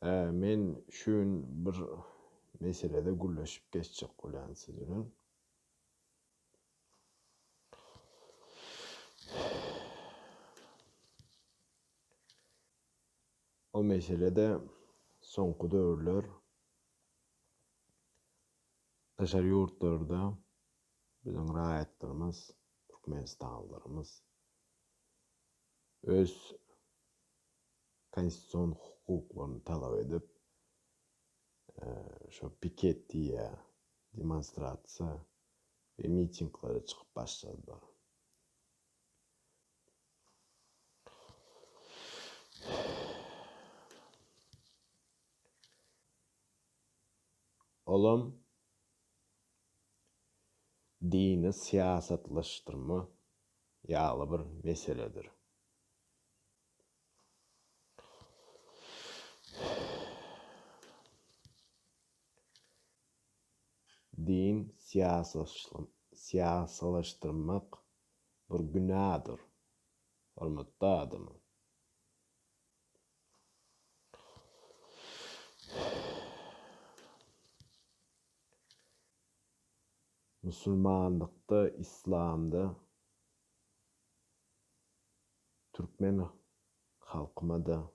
Hä, men şu gün bir meselede gürleşip geçjek bolýan siz bilen. O mesele-de soňky döwürler daşary ýurtlarda Biziň raýatlarymyz, türkmenistanlylarymyz öz konstitusion hukuklaryny talap edip, şo piket diýýä, demonstrasiýa we mitinglere çykyp başladylar. Olam. dini syýasatlaşdyrma ýaly bir meseledir. Din syýasalaşdyrmak bir günadyr, hormatly adamym. Musulmanlykda, islamda türkmen halkymada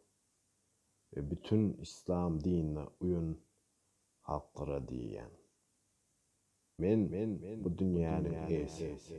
we bütin islam dinine uýun halklara diýýän. Men bu dünýäniň eýesi.